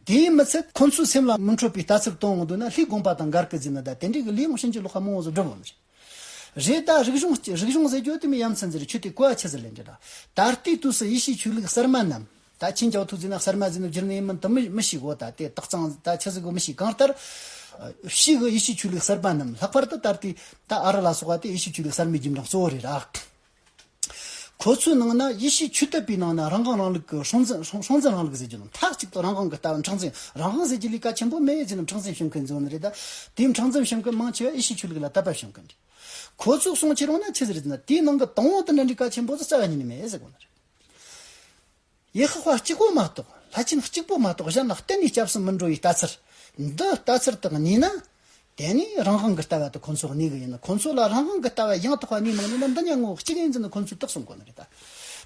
དེའི་མི་ཚད་ཁོ་ཚོའི་སེམས་ལ་མི་འཕྲོད་པའི་ལྟ་ཚུལ་གཏོང་གི་འདུག་ན་ལྷའི་དགོངས་པ་དང་འགལ་གི་རྫུན་ནི་ད་དེ་འདྲའི་གི་ལྷའི་དབང་ཤེས་ཀྱི་བློ་ཁ་རྨོངས་བཟོ་སྒྲུབ་འོང་རེད། རེད་ད་རིག་གཞུང་རིག་གཞུང་ཟེར་རྒྱུ་དེ་མི་ཡ་མཚན་ཟེར་ཁྱོད་དེ་གོ་བ་ཆི་ཟེར་ལེན་རྒྱུ་དང་ད་ལྟའི་དུས་སུ་ཡེ་ཤེས་ཆོས་ལུགས་གསར་མ་རྣམས་ད་ཁྱིན་ཅང་ཐུག་རྫུན་ན་གསར་མ་རྫུན་ནོ་སྒྱུར་ནི་ཡིན་མིན་དུ་མི་མི་ཤེས་གོ་ད་དེ་དག་ཙང་ད་ཆི་ཟེར་གོ་མི་ཤེས་གང་ལྟར་ཤེས་གི་ཡེ་ཤེས་ཆོས་ལུགས་གསར་པ་རྣམས་ལྷག་པར་དུ་ད་ལྟའི་ད་ཨ་རི་ལ་སོགས་པ་དེ་ཡེ་ཤེས་ཆོས་ལུགས་གསར་མའི་རྒྱུན་འབྲང་གཙོ་བོ་རེད་ར། གོ་མཚོན་ནང་ན་ཡེ་ཤེས་ཆུ་གཏེར་པའི་ནང་ན་རང་གང་རང་ལུགས་ཀྱི་སྲོང་བཙན་སྲོང་བཙན་རང་ལུགས་ཟེར་རྒྱུ་རྣམས་ཐག་གཅིག་ཏུ་རང་གང་གི་ལྟ་བ་འཕྲང་འཛེམས་རང་གང་ཟེར་རྒྱུ་ལས་ཀ་ཆེན་པོ་མེད་ཅེས་ནམ་འཕྲང་འཛེམས་བྱེད་མཁན་འཛོལ་ནི་རེད་ད། དེའི་འཕྲང་འཛེམས་བྱེད་མཁན་མང་ཆེ་བས་ཡེ་ཤེས་ཆོས་ལུགས་ལ་ལྟ་བབས་བྱེད་མཁན་རེད། གོ་ཚུགས་སོང་ཁྱེད་རང་ནས་ཚིག་ཟེར་ཟིན་ན་དེའི་ནང་གི་དང་བོ་དེ་འདྲ་འདྲའི་ཀ་ཆེན་པོ་དེ་རྩ་བ་ཉིད་ནས་མེད་ཟེར་དགོས་ནི་རེད། ཡེ་ཤེས་དཔའ་གཅིག་པོ་མ་གཏོགས་ལྷ་ཁྱིམ་གཅིག་པོ་མ་གཏོགས་གཞན་ལ་གཏན་ནས་སྐྱབས་སུ་མི་འགྲོ་བའི་ལྟ་ཚུལ། འདི་ལྟ་ཚུལ་དག་གཉིས་ནི། དེ་ནས་རང་དབང་གི་ལྟ་བ་དེ་ཁོ་ཚོ་གཉིས་ཀྱི་ཡིན་ན་ཁོ་ཚོ་ལ་རང་དབང་གི་ལྟ་བ་ཡང་དག་པ་གཉིས་མ་ཡིན་ན་འདི་གཉིས་ངོ་བོ་གཅིག་ཡིན་ཚུལ་ནི་ཁོ་ཚོས་རྟོགས་སུ་འགོད་ནི་རེད།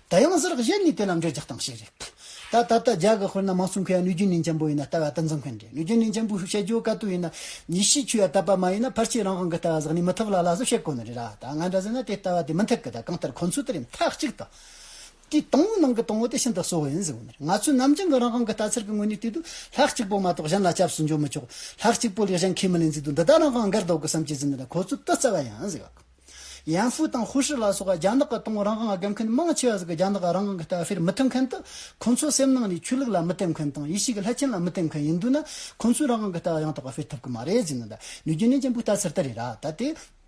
དེ་ཡང་གཟུར་གཞི་ནས་དེ་ལ་འགྲེལ་བརྗོད་བཏང་ཞིག་རེད། ད་ད་ལྟ་རྒྱ་གར་ཁུལ་ན་མང་གཙོ་མཁས་པ་ནུས་རྒྱུན་ལྡན་ཆེན་པོ་ཡིན་ན་ལྟ་བ་དེ་འཛིན་མཁན་རེད་ནུས་རྒྱུན་ལྡན་ཆེན་པོ་ཞེས་བཤད་རྒྱུ་དཀའ་སྡུག་ཡིན་ན། ཉིད་ཤེས་ཆོས་ཡ་དག་པ་མ་ཡིན་ན་ཕར་ཆེར་རང་དབང་གི་ལྟ་བ་བཟགས་ནས་མི་ཐུབ་ལ་ལ་ཟུར་བཤད་དགོས་ནི་རེད། ད་ང་འདྲ་ཟེར་ན་དེ་ལྟ་བ་དེ་མི་འཐད་གི་ད་གང་ལྟར་ཁོ་ཚོས་དེ་རིང་མཐའ་གཅིག་ཏུ། དེའི་དང་བོའི་ནང་གི་དང་བོ་དེ་ཤིན་ཏུ་གསལ་བོ་ཡིན་ཟེར་བ་ནི། ང་ཚོའི་ནམ་རྒྱུན་གྱི་རང་དབང་གི་ལྟ་ཚུལ་གྱི་ངོས་ནས་བལྟས་དུས་ལྷག་གཅིག་པོ་མ་གཏོགས་གཞན་ལ་སྐྱབས་སུ་འཇོག་མི་ཆོག་ལྷག་གཅིག་པོ་ལས་གཞན་ཁས་མི་ལེན་ཚུལ་དུ་འདི་དག་རང་དབང་སྒེར་ལྡོག་གི་བསམ་སྤྱོད་ཅན་ལ་ཁོ་ཚོས་ཏུ་རྩ་བ་ཡང་ཟེར་བ་དང། ཡན་ཧྥུའུ་དང་ཧུའུ་ཧྲི་ལ་སོགས་རྒྱ་ནག་གི་དང་རང་དབང་སྒེར་མཁན་མང་ཆེ་བ་ཟིག་གིས་རྒྱ་ནག་རང་དབང་གི་ལྟ་བའིར་མི་མཐུན་མཁན་དུ་ཁོ་ཚོའི་སེམས་ནང་ནས་ཆོས་ལུགས་ལ་མི་བརྟེན་མཁན་དང་ཡེ་ཤེས་ཀྱི་ལྷ་ཆེན་ལ་མི་བརྟེན་མཁན་ཡིན་འདུག་ན་ཁོ་ཚོའི་རང་དབང་གི་ལྟ་བ་ཡང་དག་པ་སྤེལ་ཐུབ་ཀྱི་མ་རེད་ཟེར་ནས་ནུས་རྒྱུ་ནན་ཅན་པོས་ལྟ་ཚུལ་དེ་རེད་ར་ད་དེ།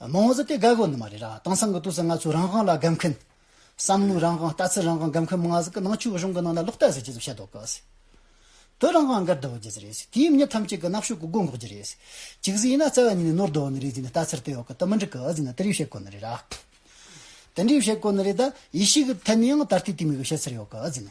མང་བཟོ་དེ་འགག་དགོས་ནི་མ་རེད་ར་དེང་སང་གི་དུས་སུ་ང་ཚོས་རང་དབང་ལ་དགའ་མཁན། བསམ་བློའི་རང་དབང་ལྟ་ཚུལ་རང་དབང་དགའ་མཁན་མང་ཟེར་གི་ནང་ཆོས་གཞུང་གི་ནང་ན་ལོག་ལྟ་ཟེར་གྱི་ཟིག་བཤད་དོག་གི་ཟིག། བོད་རང་དབང་འགར་བསྡུ་བར་གྱི་ཟིག་རེད་ཟིག་དུས་ཡུན་མྱི་ཐམས་ཅད་གི་ནག་ཤོད་གི་སྒོ་འགོག་རྒྱུ་རེད་ཟིག། གཅིག་ཟིག་ཡིན་ན་རྩ་བ་ཉིད་ནས་ནོར་བསྡོ་ནི་རེད་ཟིག་ནས་ལྟ་ཚུལ་དེ་འོག་གི་དུ་མི་འགྲིག་གི་ཟིག་ན་དེ་རིགས་བཤད་དགོས་ནི་རེད་ར། དེ་འདྲིས་བཤད་དགོས་ནི་རེད་ད་ཡེ་ཤེས་གི་ཐད་ནས་ཡང་ད་ལྟའི་དུས་མི་གི་བཤད་ཚུལ་ཡོག་གི་ཟིག་ན།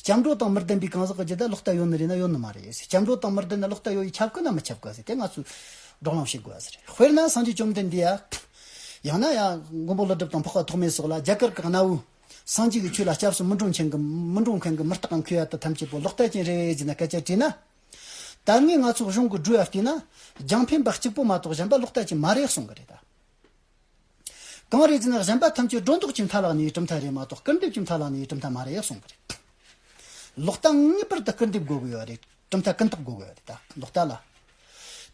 སྐྱབས་འགྲོ་དང་མི་ལྡན་པའི་གང་ཟག་གི་རྒྱུད་དེ་ལོག་ལྟ་ཡོད་ནི་རེད་ན་ཡོད་ནི་མ་རེད། སྐྱབས་འགྲོ་དང་མི་ལྡན་ན་ལོག་ལྟ་ཡོད་ཡིན་ཁྱབ་དཀའ་ན་མི་ཁྱབ་དཀའ་ཟེར་དེ་ང་ཚོས་སྒྲོག་ལམ་བྱེད་དགོས་པ་རེད། དཔེར་ན་སངས་རྒྱས་བཅོམ་ལྡན་འདས། ཡང་ན་ཡང་མགོན་པོ་ཀླུ་སྒྲུབ་དང་འཕགས་པ་ཐོགས་མེད་སོགས་ལ་རྒྱ་གར་གྱི་གནའ་བོའི་སངས་རྒྱས་ཀྱི་ཆོས་ལ་སྐྱབས་སུ་མི་འགྲོ་མཁན་གྱི་མི་འགྲོ་མཁན་གྱི་མི་རྟག་གམ་ཁོའི་ཡ་ད་ཐམས་ཅད་པོ་ལོག་ལྟ་ཅན་རེད་ཟེར་ན་སྐད་ཆ་དྲིས་ན། ད་ངས་ང་ཚོ་གཞུང་གི་སྒྲོས་ལ་བལྟས་ན་རྒྱང་འཕེན་པ་གཅིག་པོ་མ་གཏོགས་གཞན་པ་ལོག་ལྟ་ཅན་མ་རེད་གསུང་གི་རེད་ད། གངས་རི་ཅན་གཞན་པ་ཐམས་ཅད་སྒྲོ་འདོགས་ཀྱི་མཐའ་ལག་ནས་གྲུབ་མཐའ་རེད་མ་གཏོགས་སྐུར་འདེབས་ཀྱི་མཐའ་ལག་ནས་གྲུབ་མཐའ་མ་རེད་གསུངས་པ་རེད། ལོག་ལྟ་ངེས་པར་དུ་སྐུར་འདེབས་དགོས་གི་ཡོད་རེད་གྲུབ་མཐའ་ཀུན་བརྟགས་དགོས་གི་ཡོད་རེད་ད་ལོག་ལྟ་ལ།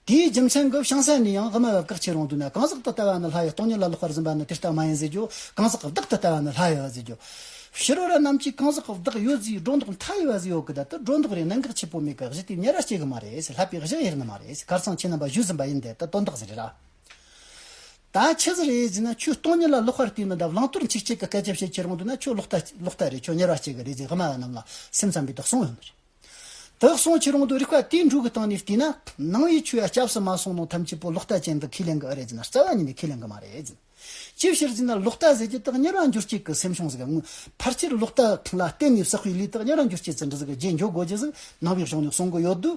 དེའི་རྒྱུ་མཚན་གྱིས་ཤིང་སྲན་ནི་ཡང་དབུ་མ་བབ་བཀག་བྱེད་རུང་དུ་ན་གང་ཟག་ཏུ་ལྟ་བ་ནི་ལྷ་ཡི་སྟོང་ཉིད་ལ་ལོག་པར་འཛིན་པ་ནི་དེ་ལྟ་མ་ཡིན་ཟེར་རྒྱུ་གང་ཟག་བདག་ཏུ་ལྟ་བ་ནི་ལྷ་ཡོད་ཟེར་རྒྱུ། ཕྱི་རོལ་ར་རྣམས་ཀྱིས་གང་ཟག་བདག་ཡོད་ཟེར་སྒྲོ་འདོགས་མཐའ་ཡོད་ཟེར་ཡོད་གི་ད་དུ་སྒྲོ་འདོགས་རེ་གནད་འགག་ཆེ་པོ་མེད་གི་གཞི་དེ་ཉེ་ར་སྐྱེ་གི་མ་རེད་ལྷག་པའི་གཞི་དབྱེར་ནི་མ་རེད་གར་ཚང་ཁྱེད་རྣམ་པ་བཞུགས་ཟིན་པ་ཡིན་དེ་ལྟ་དོན་དག་ཟེར་རེད་ར། ད་ཁྱེད་ཚོ་རེད་ཟེར་ན་ཁྱོད་སྟོང་ཉིད་ལ་གློག་ཁར་བསྟིམ་ན་འདྲ་བླང་དོར་འཆིག་ཆིག་གི་སྐད་ཆ་བཤད་ཁྱེད་རང་འདུག་ན་ཁྱོད་གློག་རྟ་གློག་རྟ་རེད་ཁྱོད་གཉེར་བ་གཅིག་གི་རེད་ཟེར་སྔ་མ་བ་རྣམས་ལ་སེམས་ཙམ་པའི་དག་སོང་ཡོད་མ་རེད། དག་སོང་ཁྱེད་རང་འདུག་རིག་པ་དེའི་འབྲུག་གི་སྟེང་ནས་བལྟས་ན་ནང་བའི་ཆོས་ཡ་སྐྱབས་སུ་མ་སོང་ནང་ཐམས་ཅད་པོ་གློག་རྟ་ཅན་དུ་ཁས་ལེན་གི་ཨ་རེད་ཟེར་ན་རྩ་བ་ཉིད་ནས་ཁས་ལེན་གི་མ་རེད། ཅིའི་ཕྱིར་ཟེར་ན་གློག་རྟ་ཟེར་གྱི་དག་གཉེར་བ་འགྱུར་གཅིག་གི་སེམས་བྱུང་ཟིག་དངོས་ཕར་ཁྱེར་གློག་རྟ་ལ་བརྟེན་ནས་བསགས་པའི་ལུས་དག་གཉེར་བ་འགྱུར་གཅིག་ཟིན་འདྲི་ཟིག་རྗེས་འཇོག་དགོས་རྗེས་ཟིག་ནང་བའི་གཞུང་ནས་གསུང་གི་ཡོད་དུས།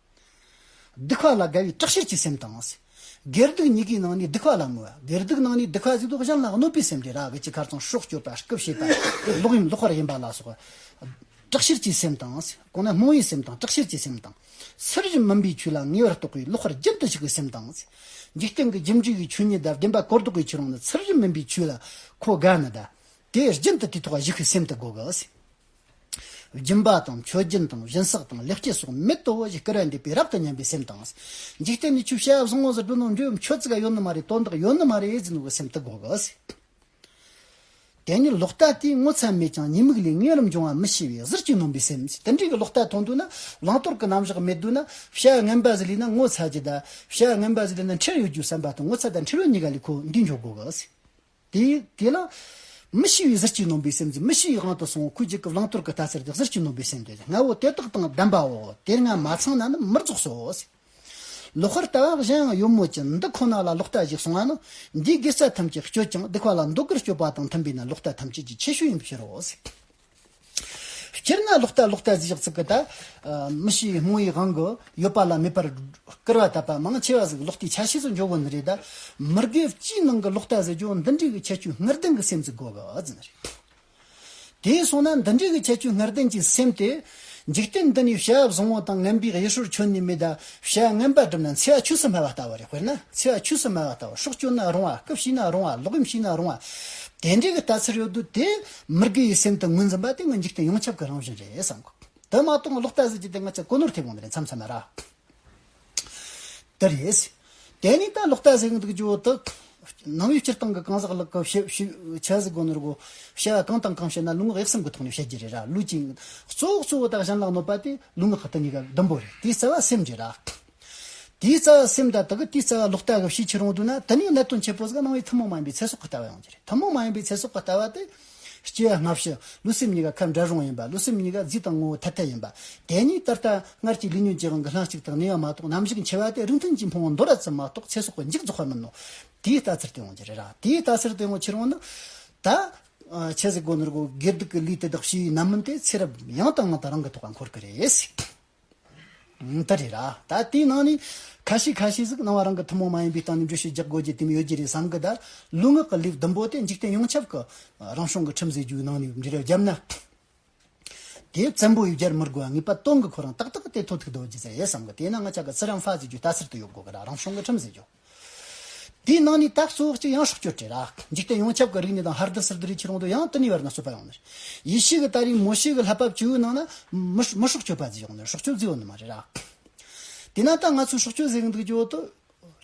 སྡིག་བྷ་ལ་དགའ་བའི་དྲག་ཤེད་ཀྱི་སེམས་དང། སྒེར་སྡུག་གཉིས་ཀའི་ནང་ནས་སྡིག་བྷ་ལ་མོས། སྒེར་སྡུག་ནང་ནས་སྡིག་བྷ་གཟིགས་མདོག་གཞན་ལ་གནོད་པའི་སེམས་དེ་ར་བའི་ཅི་གར་ཚང་ཤོག་སྐྱོར་པ་སྐུབས་བྱེད་པ་དེ་ལོག་གཡེམ་ལོག་དཔར་ཡིན་པ་ལ་སོགས་དྲག་ཤེད་ཀྱི་སེམས་དང། གོང་ན་རྨོངས་བའི་སེམས་དང་དྲག་ཤེད་ཀྱི་སེམས་དང། ཚུལ་བཞིན་མིན་པའི་ཆོས་ལ་ངེས་པར་རྟོག་པའི་ལོག་དཔར་རྒྱུན་དུ་ཞུགས་པའི་སེམས་དང། འཇིག་རྟེན་གྱི་རྒྱུན་འཇུག་པའི་ཆོས་ཉིད་དང་བདེན་པ་གོ་ལྡོག་པའི་ཆོས་རང་ནི་ཚུལ་བཞིན་མིན་པའི་ཆོས་ལ་གོ་དགའ་ནི། དེ་རྒྱུན་དུ་དེ་ཐོག་ཞུགས་པའི་སེམས་དུ་གོ་དགོས། སྦྱིན་པ་དང་མཆོད་སྦྱིན་དང་བཞིན་བསགས་དང་ལེགས་སྐྱེས་སོགས་མི་ལྟོ་བ་ཞིག་སྐུ་ར་འདེབས་པས་རབ་ཏུ་ཉམས་པའི་སེམས་དང། འཇིག་རྟེན་ནས་ཆུ་བྱ་བཟང་ངོ་ཟེར་དྲུང་ན་འགྲོའི་མཆོད་རྫས་ཀ་ཡོད་ནི་མ་རེད་དོན་དག་ཡོད་ནི་མ་རེད་ཟེར་ནོ་གི་སེམས་དུ་དགོངས་གི། དེ་ནས་ལོག་ལྟ་དེས་ངོ་ཚ་མེད་ཀྱང་ཉེས་དམིགས་ལས་ངན་རམ་འབྱུང་བ་མི་ཤེས་པས་གཟིར་གྱིས་ནོངས་པའི་སེམས་དེ་འདྲའི་གི་ལོག་ལྟ་མཐོང་དུས་ན་བླང་དོར་གི་རྣམ་གཞག་མེད་དུས་ན་བྱ་བ་ངན་པ་ཟིག་ལས་ན་ངོ་ཚ་གྱི་གདའ། བྱ་བ་ངན་པ་ཟིག་ལས་ན་འཁྲེར་ཡོད་རྒྱུའི་བསམ་པ་དང་ངོ་ཚ་དང་འཁྲེར་ཡོད་གཉིས་ཀ་ལས་ཁོ་འདུས་འཇོག་དགོས་གི། དེ་དེ་ལ། མི་ཤི་བའི་གཟི་བརྗིད་ནོམ་པའི་སེམས་ཀྱིས་མི་ཤི་བའི་དབང་དུ་སོང་ཁུལ་རྒྱལ་ཁབ་བླང་དོར་གྱི་ལྟ་ཚུལ་དེ་གཟི་བརྗིད་ནོམ་པའི་སེམས་ཏེ་ལྔ་བོ་དེ་དག་དང་ལྡན་པའོ། དེ་ལྔ་མ་ཚང་ན་ནི་མི་རྫོགས་སོ། ལོ་ཧོར་ལྟ་བ་གཞན་ཡང་ཡོད་མོད་ཀྱི་འདི་ཁོ་ན་ལ་ལོག་ལྟ་ཞིག་སོང་བ་ནི། འདིས་དགེ་རྩ་ཐམས་ཅད་སྤྱོད་ཅིང་སྡིག་པ་ལ་འདོད་དགར་སྤྱོད་པ་དང་མཐུན་པས་ན་ལོག་ལྟ་ཐམས་ཅད་ཀྱི་ཁྱད་ཆོས་ཡིན་པའི་ཕྱིར་རོ། སྤྱིར་ན་ལོག་ལྟ་ལོག་ལྟ་ཞིག་ཚིག་གི་དང། མི་ཤེས་པའི་རྨོངས་ཡིག་དབང་གིས་ཡོད་པ་ལ་མེད་པར་བསྐུར་བ་བཏབ་པ་མང་ཆེ་བ་ཞིག་ལོག་ལྟའི་ཆ་ཤས་སུ་འཇོག་དགོས་ནི་རེད། མི་དགེ་བཅུའི་ནང་གི་ལོག་ལྟ་ཟེར་རྒྱུ་འདི་འདྲའི་གི་ཁྱད་ཆོས་ངར་ལྡན་གྱི་སེམས་ཀྱི་དགོས་གལ་ནི་རེད། དེས་སོང་ན་འདི་འདྲའི་གི་ཁྱད་ཆོས་ངར་ལྡན་གྱི་སེམས་དེ། འཇིག་རྟེན་འདི་ནས་ཞལ་བཟང་བོ་དང་ངན་པའི་གཡས་ཧྲུལ་ཁྱོན་ནས་མེད་ད་ཞལ་ངན་པ་བསྒྲུབ་ན་འཚེ་བ་ཆོས་སུ་སྨྲ་བ་ལྟ་བུ་རེད་དཔེར་ན་འཚེ་བ་ཆོས་སུ་སྨྲ་བ་ལྟ་བུ་སྲོག་གཅོད་ན་རུང་བ་སྐུ་ཕྱིན་ན་རུང་བ་ལོག་གཡེམ་བྱས་ན་རུང་བ། དེ་འདྲའི་གི་ལྟ་ཚུལ་ཡོད་དུས་དེ་མི་དགེ་བའི་སེམས་དང་ངོས་འཛིན་པ་དེ་ངའི་འཇིག་རྟེན་ཡོངས་ཁྱབ་ཀྱི་རང་བཞིན་རེད་བསམ་གོ། དེ་མ་གཏོགས་ལོག་ལྟ་ཟེར་རྒྱུ་དེ་ང་ཚོས་གོ་ནོར་ཐེབས་དགོས་ནི་རེད་མཚམས་མཚམས་ན་ར། དེ་རེད། དེ་ནས་ད་ལོག་ལྟ་ཟེར་གྱི་འདུག་ཀྱི་འོག་ཏུ། ནང་བའི་སྤྱིར་བཏང་གི་གང་ཟག་ལགས་ཀྱི་བྱ་བཞག་གོ་ནོར་གོ། བྱ་བ་གང་དང་གང་བྱས་ན་ལུས་ངག་གཡག་སེམས་ཀྱི་ཐོག་ནས་བྱེད་རྒྱུ་རེད་ར་ལུས་ཀྱི། གཙོ་བོ་གཙོ་བོ་དག་གཞན་ལ་གནོད་པ་དེ་ལུས་ངག་ལྟ་གཉིས་ཀ་ལ་ཟླུམ་པོ་རེད་དེའི་རྩ་བ་སེམས་རེད་ར། དེའི་རྩ་བ་སེམས་དང་དག་གི་རྩ་བ་ལོག་ལྟ་གི་བྱེད་ཆེ་རུང་དུ་ན་དེ་ནས་གནད་དོན་ཆེ་པོ་ཟིག་སྣང་བའི་ཐུན་མོང་མ་ཡིན་པའི་ཚེ་སྲོག་གི་ལྟ་བ་ཡོང་གི་རེད་ཐུན་མོང་མ་ཡིན་པའི་ཚེ་སྲོག་གི་ལྟ་བ་དེ། སྐྱེ་བ་སྔ་ཕྱི་ལུས་སེམས་གཉིས་ཀ་ཁ་འབྲལ་རུང་ཡིན་པ་ལུས་སེམས་གཉིས་ཀ་རྫས་དང་ངོ་བོ་ཐ་དད་ཡིན་པ་དེ་གཉིས་ད་ལྟ་སྔར་གྱི་ལུས་ཉོན་ཅིག་རང་གི་ལྷན་ཅིག་དང་གནས་པ་མ་གཏོགས་ནམ་ཞིག་འཆི་བ་དེ་རིང་ཐུན་གྱི་འཕོང་བ་འདོར་ར་ཙམ་མ་གཏོགས་ཚེ་སྲོག་གི་འཇིག་རྫོགས་པ་མིན་ནོ། དེའི་ལྟ་ཚུལ་དེ་ཡོང་གི་རེད་ར་དེའི་ལྟ་ཚུལ་དེ་ཡོང་ཆེ་རུང་ན། ད། ཁྱེད་ཀྱི་སྒོ་ནས་རྒོལ་དགེ་སྡིག་གི་ལུས་དེ་དག་ཕྱིའི་རྣམ་སྨིན་དེ་ཚེ་རབས་ཡང་དང་ཡང་དང་རང་གི་ཐོག་ལ་འཁོར་གི་རེད། ད་རེད་ར། ད་དེའི་ནང་ནས། ཁ་ཤས་ཁ་ཤས་ཟིག་སྣང་བ་རང་གི་ཐུན་མོང་མ་ཡིན་པའི་སྟེང་ནས་འགྲུལ་བཞུད་རྒྱག་དགོས་ཀྱི་དེམ་ཡོད་ཀྱི་རེད་བསམ་གི་ད། ལུས་ངག་གི་ལེའུ་ཟླུམ་པོ་དེ་འཇིག་རྟེན་ཡོངས་ཁྱབ་ཀྱི། རང་བྱུང་གི་ཁྲིམས་ཟེར་རྒྱུའི་ནང་ནས་འབྲི་རུ་བརྒྱབ་ན། དེ་བཙན་པོ་ཡུལ་གྱར་མི་དགོས་ངེས་པ་སྟོང་གི་ཁོ་རང་ཏག་ཏག་གི་དེ་ཐོ་ཐིག་དོ་རྒྱུ་ཟེར་ཡས་བསམ་གི་དེས་ན་ང་ཅག་གི་ཚུར་ཡང་ཧྥ་ཟེར་རྒྱུ་ལྟ་སར་དུ་ཡོད་དགོས་གི་ར་རང་བྱུང་གི་ཁྲིམས་ཟེར་རྒྱུ། དེའི་ནང་ནས་དྭགས་སོགས་ཀྱི་ཡང་སྲོག་གཅོད་བྲལ། འཇིག་རྟེན་ཡོངས་ཁྱབ་ཀྱི་རིག་གནས་དང་ཧར་རྡུལ་སིར་རྡུལ་རིགས་ཁྱེར་དབང་དུ་ཡང་དུ་ནི་བར་ན་བསོད་པ་ཡོང་ནི། ཡེ་ཤེས་ཀྱི་ད་རིང་མོ་ཤེ་ཀྱི་ལྷ་བབས་བཅུའི་ནང་ན། མི་སྲོག་གཅོད་པ་རྫི་ཡོང་ནི་སྲོག་གཅོད་རྫི་ཡོང་ནི་མ་རེད། དེས་ན་ད་ང་ཚོས་སྲོག་གཅོད་བཟོས་གི་འདུག་རྒྱུ་དེ།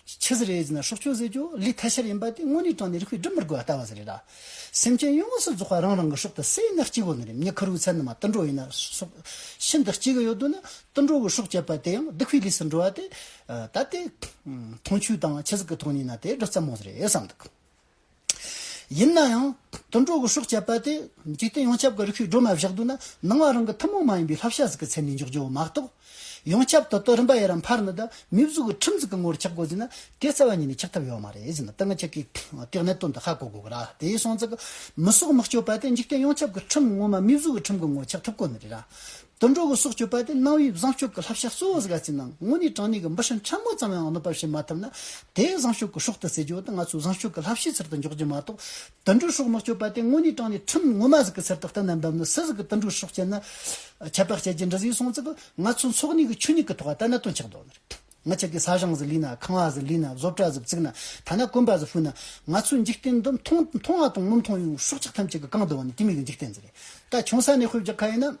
ཆི་ཟི་རེད་ཟེར་ན་སྲོག་གཅོད་བཟོས་རྒྱུ་ལས་ཐལ་ཤར་ཡིན་པ་དེ་དངོས་གནས་དྲང་ནས་རིགས་པས་སྒྲུབ་མི་དགོས་པ་ལྟ་བ་ཟི་རེད། སེམས་ཅན་ཡོངས་སུ་རྫོགས་པ་རང་རང་གི་སྲོག་དེ་བསད་ན་སྐྱིད་པོ་ནི་རེད་མྱི་ཁུ་རུའི་ཚལ་ནང་མ་དུད་འགྲོ་ཡིན་ན་སྲོག་ཤིན་ཏུ་སྐྱིད་གི་ཡོད་དོ་ན། དུད་འགྲོ་གི་སྲོག་བཅད་པ་དེ་ཡང་བདུད་ཁུའི་ལུས་སུ་འགྲོ་བ་དེ། ད་ལྟའི་འཐུང་ཆུ་དང་ཆུ་ཟེགས་ཀྱི་ཐོག་ནས་ན་དེ་སྒྲུབ་རྩ་མོ་རེད་བསམ་འདུག་ཡིན་ན་ཡང་དུད་འགྲོ་གི་སྲོག་བསྐྱབས་པ་དེ་འཇིག་རྟེན་ཡོངས་ཁྱབ་ཀྱི་རིགས་ཤིག་སྒྲོལ་མ་བཞག་འདུག་ན་ནང་བ་རང་གི་ཐུན་མོང་མ་ཡིན་པའི་ལྷ་བྱ་ཟིག་གི་མཚན་ནས་འཇོག་རྒྱུ་མ་གཏོགས། ཡོངས་ཁྱབ་དོ་དོ་རིམ་པ་ཡི་རང་ཕར་ནི་དང་མི་གཟུགས་ཀྱི་ཁྲིམས་འཛུགས་ཀྱི་ངོར་འཁྱག་དགོས་ཟིན་ན་དེ་རྩ་བ་ཉིད་ནས་འཁྱག་ཐབས་ཡོད་མ་རེད་ཟིན་ན་ད་ང་ཁྱེད་ཀྱིས་དེ་གནད་དོན་འདི་ཧ་གོ་དགོས་གི་ར་དེའི་སོང་ཙག་མི་སྲོག་མི་སྐྱོབ་པ་དེ་འཇིག་རྟེན་ཡོངས་ཁྱབ་ཀྱི་ཁྲིམས་ངོ་མ་མི་གཟུགས་ཀྱི་ཁྲིམས་ཀྱི་ངོར་འཁྱག་ཐུབ་དགོས་ནི་རེད་ར་དུད་འགྲོ་བའི་སྲོག་གཅོད་པ་དེ་གནང་བའི་བཟང་སྤྱོད་ཀྱི་བསླབ་བྱ་གཙོ་བོ་ཟིག་ཡ་ཚིག་ནང་དངོས་གནས་དྲང་གནས་ཀྱི་འབུ་སྲིན་ཕྲ་མོ་ཙམ་ཡང་གནོད་པར་བྱེད་མ་ཐུབ་ན་དེ་བཟང་སྤྱོད་ཀྱི་སྲོག་ཏུ་བརྩི་རྒྱུ་དེ་ང་ཚོའི་བཟང་སྤྱོད་ཀྱི་བསླབ་བྱའི་ཚུལ་དུ་འཇོག་རྒྱུ་མ་གཏོགས་དུད་འགྲོའི་སྲོག་མི་གཅོད་པ་དེ་དངོས་གནས་དྲང་གནས་ཁྲིམས་ངོ་མ་ཟིག་གི་ཚུལ་དུ་གཏན་ནས་འབེབས་ནས་སུ་ཟིག་གིས་དུད་འགྲོའི་སྲོག་བཅད་ན་ཁྱད་པར་བཤད་རྒྱུ་འདྲི་ཟིག་སོང་ཙི་གི་ང་ཚོའི་འཚོགས་གནས་ཀྱི་ཆོས་ཉིད་ཀྱི་ཐོག་ལ་ལྟ་ན་དོན་ཆགས་མདོག་ནི་རེད། ང་ཅག་གི་ས་ཞང་ཟི་ལི་ན་ཁང་བ་ཟི་ལི་ན་བཟོ་གྲྭ་ཟི་བརྩིགས་ན་ཐ་ན་གོན་པ་ཟི་ཕུད་ན་ང་ཚོའི་འཇིག་རྟེན་འདི་མཐོང་མཐོང་ང་དང་མི་མཐོང་ཡང་སྲོག་ཆགས་ཐམས་ཅད་ཀྱི་རྐང་དུ་བ་ནི་དེ་མིག་གི་འཇིག་རྟེན་ཟི་རེད་ད་ཆུང་ས་ནས་ཤོད་རྒྱག་ག་ཡིན་ན་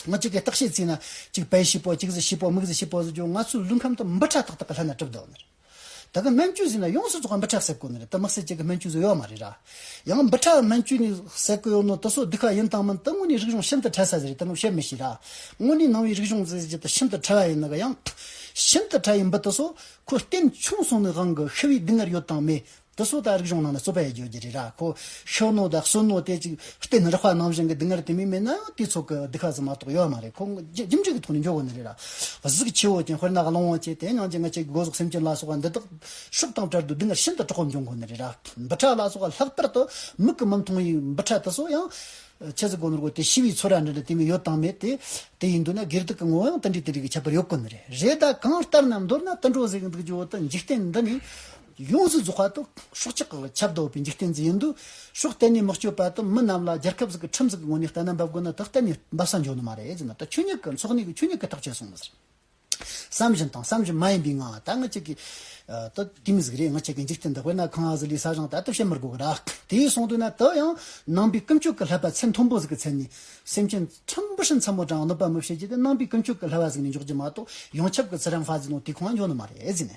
ང་ཅག་གི་བརྟག་བཤད་ཚིག་ན་གཅིག་བལ་ཞིག་པོ་གཅིག་ཟི་ཞིག་པོ་མིག་ཟི་ཞིག་པོ་ཟི་ཀྱང་ང་ཚོའི་ལུས་ཁམས་དུ་འབུ་ཕྲ་ཏག་ཏག་གི་ལྷ་ན་གྲིབ་བདོ་ནི་རེད་ད་གི་སྨན་བཅོས་ཟི་ན་ཡོངས་སུ་རྫོགས་པ་འབུ་ཕྲ་གསེབ་དགོ་ནི་རེད་ད་དམིགས་བསལ་ཅིག་གི་སྨན་བཅོས་ཟི་ཡོད་མ་རེད་ར། ཡང་འབུ་ཕྲ་སྨན་བཅུད་ནི་ཟས་གོས་ཡོ་ནོ་ཏོ་སོ་སྡི་ཁ་ཡིན་སྟངས་མིན་སྟབས་དངོས་ནས་རིག་གཞུང་ཤིན་ཏུ་བྲལ་ས་ཞིག་རེད་དེ་རྣམས་བཤད་མི་ཤེས་ར། དངོས་ནས་ནང་བའི་རིག་གཞུང་རྫས་གཞི་དང་ཤིན་ཏུ་བྲལ་བ་ཡིན་ནི་ག་ཡང། ཤིན་ཏུ་བྲལ་བའི་འབུ་ཏོ་སོ་ཁོ་བསྟན་ཆུང་སོང་ནི་དབང་གི་ཤི་བའི་སྡུག་བསྔལ་ཡོད་དང་མེད་དེ་སོ་ད་རིག་གཞུང་ནང་ནས་རྩོད་པ་ཡི་བརྗོད་རྒྱུ་རེད་ར་ཁོ་ཤི་ནོ་དང་གསོན་ནོ་དེ་ཅིག་བསྟན་རག་པ་ནང་བཞིན་གྱི་སྡུག་བསྔལ་དེ་མིན་མེད་ན་ཡང་དེའི་ཚོགས་ཀྱི་སྡི་ཁ་ཟི་མ་གཏོགས་ཡོད་མ་རེད་ཁོ་རྒྱུ་འབྲས་ཀྱི་ཐོག་ནས་འཇོག་དགོས་ནི་རེད་ར། གཟུགས་ཆེ་བོ་ཅན་དཔེར་ན་གླང་བོ་ཆེ་དེ་ཉང་ཅིག་ང་ཅིག་གི་སྒོ་ཟོག་སེམས་ཅན་ལ་སོགས་པ་འདི་དག་ཤུགས་དང་བྲལ་དུ་འདི་འགར་ཤིན་ཏུ་གྲོགས་འབྱུང་དགོས་ནི་རེད་ར། འབུ་ཕྲ་ལ་སོགས་ལྷག་པར་དུ་མིག་གི་མི་མཐོང་བའི་འབུ་ཕྲ་དེ་སོགས་ཡང། ཁྱེད་ཚོས་གོ་ནོར་བགོ་དེ་ཤི་བའི་ཚོད་ར་འདྲ་འདྲ་དེ་མི་ཡོད་དང་མེད་དེ། དེ་ཡིན་འདུག་ན་སྒེར་དུག་གི་ངོ་བོ་ཡང་དེ་འདྲའི་དེ་འདྲའི་གི་ཁྱད་པར་ཡོད་དགོས་ནི་རེད། རེད་ད་གང་ལྟར་ན་མདོར་ན་དུད་འགྲོ་གཟིགས་འདུག་ཀྱི་འོག་ཏུ་འཇིག་རྟེན་འདི་ནི། ཡོངས་སུ་རྫོགས་པ་དུ་ཤོག་ཅིག་ཁྱབ་བདག་འོས་པའི་འཇིག་རྟེན་འདི་ཡིན་དུ་ཤོག་གཏན་ནས་མི་སྤྱོད་པ་དུ་མི་རྣམས་ལ་རྒྱལ་ཁབ་ཟིག་གི་ཁྲིམས་ཟིག་གི་ངོ་ནས་ལྟ་ན་འབབ་དགོས་ན་དུ་གཏན་ནས་འབབ་ས་འབྱུང་ནི་མ་རེད་ཅེ་ན་དུ་ཆོས་ཉིད་ཀྱི་འཚོགས་གནས་ཀྱི་ཆོས་ཉིད་ཀྱི་ཐག་ཆོད་སོང་བ་ཟེར། བསམ་བཞིན་དང་བསམ་བཞིན་མ་ཡིན་པའི་ངང་ལ་ད་ངི་ཅིག་གིས། ད་དེ་མི་ཟིག་རེད་ངི་ཅིག་གིས་འཇིག་རྟེན་འདི་དཔེར་ན་ཁང་ཟིག་ལས་ས་གཞང་དལ་དུ་བཤད་མི་དགོས་གི་རག་དེས་གསུངས་དོན་ན་དེ་ཡང་ནང་པའི་ཀུན་སྤྱོད་ཀྱི་ལྷད་པ་ཚད་མཐོན་པོ་ཟིག་གི་ཚད་ནས། སེམས་ཅན་ཕྲན་བུ་ཤི་འཚམ་མོ་དྲང་གནོད་པ་མི་བྱེད་རྒྱུ་དེ་ནང་པའི་ཀུན་སྤྱོད་ཀྱི་ལྷད་པ་ཟིག་ནས་འཇོག་རྒྱུ་མ་གཏོགས་ཡོངས་ཁྱབ་ཀྱི་ཚེ་རིང་ཧྥ་ཟིག་ནང་དེ་གང་ཡོད་ནི་མ་རེད་ཟེར་ནས།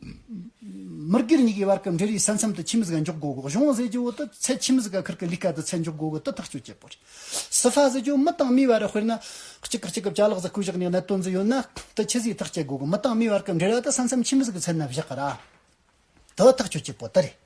མི་སྒེར་གཉིས་ཀྱི་བར་གྱི་འབྲེལ་ཡོད་ས་མཚམས་དུ་ཁྱིམ་བཟའ་འཇོག་སྒོ་གཞུང་བཟོས་རྒྱུའི་འོག་ཏུ་ཚད་ཁྱིམ་བཟའ་ཁུལ་གྱི་ལས་ཀ་དང་ཚད་འཇོག་སྒོ་དགུ་དུ་ཐག་གཅོད་བྱེད་དགོས། སི་ཧྥ་བཟོས་རྒྱུའི་མི་དང་མིའི་བར་དཔེར་ན། གཅིག་གིས་གཅིག་གི་བྱ་གླག་བཟའ་སྐོས་བཞག་ནས་གནད་དོན་འཛུལ་ཡོད་ན། དེ་ཁྱི་བཟའི་ཐག་བཅད་སྒོ་གི་མི་དང་མིའི་བར་གྱི་འབྲེལ་བ་དང་ས་མཚམས་ཁྱིམ་བཟའ་གྱི་ཚད་ནི་བཞག་ར་དུ་ཐག་གཅོད་བྱེད་དགོས་དེ་རེད།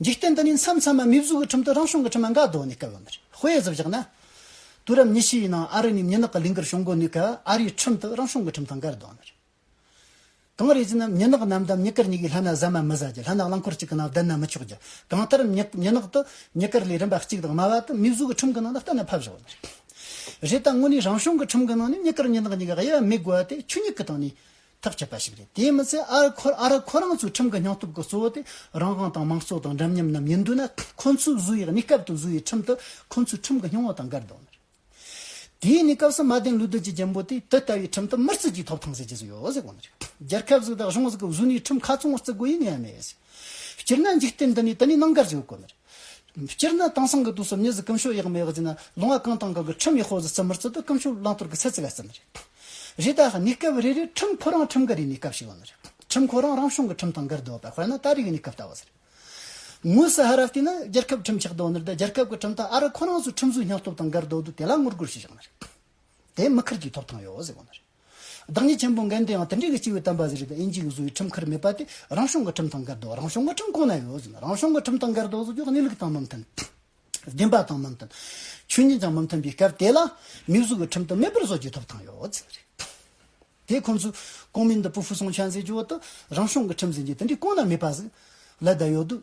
འཇིག་རྟེན་འདི་ནས་མཚམས་མཚམས་མ་མིག་གཟུགས་ཀྱི་ཁྲིམས་དུ་རང་བྱུང་གི་ཁྲིམས་མ་འགག་གདོད་ནས་བསྐལ་བ་མེར་སྤོས་གཟི་བཞག་ན། དུས་རབས་ཉི་ཤུའི་ནང་ཨ་རི་ནས་མྱི་ནག་གི་ལས་འགུལ་བྱུང་དགོས་ནུས་སྐབས་ཨ་རིའི་ཁྲིམས་དུ་རང་བྱུང་གི་ཁྲིམས་དང་འགལ་གདོད་མེར། གངས་རི་བརྫིས་ན་མྱི་ནག་རྣམས་དམ་མྱི་དཀར་གཉིས་ཀྱི་ལྷ་ན་བཟའ་མ་མི་བཟའ་རྒྱུ་ལྷ་ནག་རླངས་འཁོར་གཅིག་གི་ནང་བསྡད་ན་མི་ཆོག་རྒྱུ་གང་ལྟར་མྱི་མྱི་ནག་དུ་མྱི་དཀར་ལས་རིམ་པ་གཅིག་དང་དམའ་བ་དུ་མིག་གཟུགས་ཀྱི་ཁྲིམས་ཀྱི་ནང་དུ་གཏན་ནས་ཕབ་བཞག་མེར། རེད་ད་དངོས་ནས་རང་བྱུང་གི་ཁྲིམས་ཀྱི་ནང་ནས་མྱི་དཀར་མྱི་ནག་གཉིས་ཀྱི་དབྱེ་བ་མེད་དགོས་པ་དེ་ཆུ་མྱིག་གི་སྟེང་ནས། ཐག་བཅད་པ་ཞིག་རེད་དེས་མི་ཚད་ཨ་ར་ཁོ་རང་ཚོའི་ཁྲིམས་ཀྱི་སྙིང་སྟོབས་ཀྱི་གཙོ་བོ་དེ་རང་དབང་དང་དམངས་གཙོ་དང་འདྲ་མཉམ་རྣམས་ཡིན་དུས་ན་ཁོ་ཚོས་བཟོས་བའི་གནས་སྐབས་དུ་བཟོས་བའི་ཁྲིམས་དེ་ཁོ་ཚོའི་ཁྲིམས་ཀྱི་སྙིང་བོ་དང་འགལ་འདུག་མོད། དེའི་གནས་སྐབས་སུ་མ་བདེན་ལུགས་བདུད་ཀྱི་རྒྱལ་པོ་དེས་དེ་ལྟ་བུའི་ཁྲིམས་དེ་མིར་བརྩི་རྒྱུའི་ཐོབ་ཐང་ཟེར་གྱི་བཟོས་ཡོད་ཟེར་གོ་ནི་རྒྱལ་ཁབ་ཟིག་དང་གཞུང་ཟིག་གི་བཟོས་ནས་ཁྲིམས་ཁ་ཚང་བར་བརྩི་དགོས་ཡི་ངེས་མེད་ཟེར། སྤྱིར་ན་འཇིག་རྟེན་འདི་ནས་དེ་ནས་གནང་གར་བྱེད་དགོས་གོ་ནི་རེད། སྤྱིར་ན་དེང་སང་གི་དུས་སུ་གནས་གཟིགས་སྐུ་མཆོག་ཡག་མི་ཡག་བརྗེས་ན་ལུང་བ་གང་དང་གང་གི་ཁྲིམས་ཡག་ཤོག་ཟིག་བརྩི་མི་བརྩི་དུ་སྐུ་མཆོག་བླང་དོར་གི་ཚད་བརྩི་བ་ཙམ་རེད། རེད་ད། གནས་སྐབས་རེ་རེར་ཁྲིམས་ཁོ་རང་ཁྲིམས་འགལ་རེའི་གནས་སྐབས་ཤིག་ཡོང་ནི་རེད། ཁྲིམས་ཁོ་རང་རང་གཞུང་གི་ཁྲིམས་དང་འགལ་འདུག་པ་དཔེར་ན་ཏཱ་རིག་གི་གནས་སྐབས་ལྟ་བུ་ཟེར། དངོས་སུ་ཧ་ར་བལྟས་ན་རྒྱལ་ཁབ་ཁྲིམས་ཆགས་འདུག་ནི་རེད་ད་རྒྱལ་ཁབ་ཀྱི་ཁྲིམས་དང་ཨ་རི་ཁོ་རང་ཚོའི་ཁྲིམས་བཟོའི་སྙིང་སྟོབས་དང་འགལ་འདུག་འདུག་དེ་ལ་ངོ་རྒོལ་བྱེད་ཆོག་ནི་རེད། དེ་མི་ཁུར་རྒྱུའི་ཐོབ་ཐང་ཡོད་ཟེར་བ་ནི་རེད། བདག་ཉིད་ཆེན་པོ་འགན་དེའང་དེ་འབྲེལ་གྱི་སྤྱི་བོའི་དམ་པ་ཟེར་བའི་དབྱིན་ཇིའི་བཟོ་བའི་ཁྲིམས་ཁར་མེད་པ་དེ་རང་བྱུང་གི་ཁྲིམས་དང་འགལ་འདུག་རང་བྱུང་གི་ཁྲིམས་གང་ན་ཡོད་ཟེར་ན་རང་བྱུང་གི་ཁྲིམས་དང་འགལ་འདུག་ཟེར་རྒྱུ་གནས་ལུགས་དང་མི་མཐུན། བདེན་པ་དང་མི་མཐུན། ཆོས་ཉིད་ཀྱང་མི་མཐུན་པའི་སྐབས་དེ་ལ་མི་གཟུགས་ཀྱི་ཁྲིམས་དུ་མེད་པར་བཟོ་རྒྱུའི་ཐོབ་ཐང་ཡོད་ཟེར་བ་རེད། དེ་ཁོང་ཚོས་ཀོང་མིན་ཏི་པུ་ཧྥུ་སུང་ཆན་ཟེར་རྒྱུ་བ་དེ་རང་བྱུང་གི་ཁྲིམས་ཟེར་རྒྱུ་དེ་འདྲའི་གང་ན་མེད་པ་ཟིག་ལ་བསྡད་ཡོད་དུས།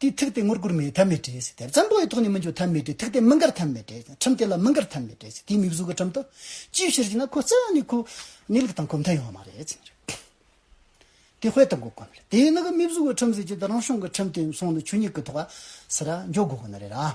དེའི་ཐུགས་དེ་ངུར་སྒུར་མེད་ཐབས་མེད་བྲེས་དེར་ཙམ་པོ་ཡི་ཐོག་ནས་མི་འཇོག་ཐབས་མེད་བྲེས་ཐུགས་དེ་མི་འགར་ཐབས་མེད་བྲེས་ཁྲིམས་དེ་ལ་མི་འགར་ཐབས་མེད་བྲེས་དེའི་མིག་གཟུགས་ཀྱི་ཁྲིམས་དང། ཅིའི་ཕྱིར་ཞེ་ན་ཁོ་རྩ་བ་ནས་ཁོ། གནས་ལུགས་དང་གོ་མཐའ་ཡོང་བ་མ་རེད། དེ་ཧོལ་དང་གོ་དཀོན་རེད་དེས་ན་གི་མིག་གཟུགས་ཀྱི་ཁྲིམས་ཟེར་གྱི་དེ་རང་བྱུང་གི་ཁྲིམས་དེ་སོང་ནས་ཆོས་ཉིད་ཀྱི་ཐོག་ཨ། ཟེར་ར་འཇོག་དགོས་དགོས་ནི་རེད་ར།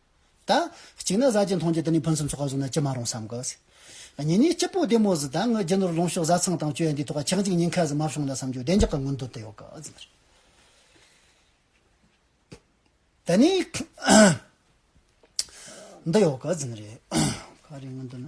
ད། གཅིག་ན་བཟའ་བཅའི་མཐོང་རྒྱ་དེ་ནས་ཕུན་སུམ་ཚོགས་པ་བཟུང་ན་ཅི་མ་རུང་བསམ་གོ། གཉིས་ནས་སྐྱིད་པོ་བདེ་མོ་ཟིག་ད་ངའི་རྒྱུ་ནོར་ལོངས་ཤོག་བཟའ་ཚང་དང་སྤྱོད་ཡོན་འདིའི་ཐོག་ལ་ཆག་འཇིག་ཉེན་ཁ་ཟིག་མ་བྱུང་ལ་བསམ་རྒྱུ་བདེ་འཇགས་ཀྱི་མངོན་འདོད་དེ་ཡོད་ག་ཟེར་ན། ད་ནི། འདི་ཡོད་ག་ཟེར་ན་རེད། ག་རེ་མངོན་འདོད་ན།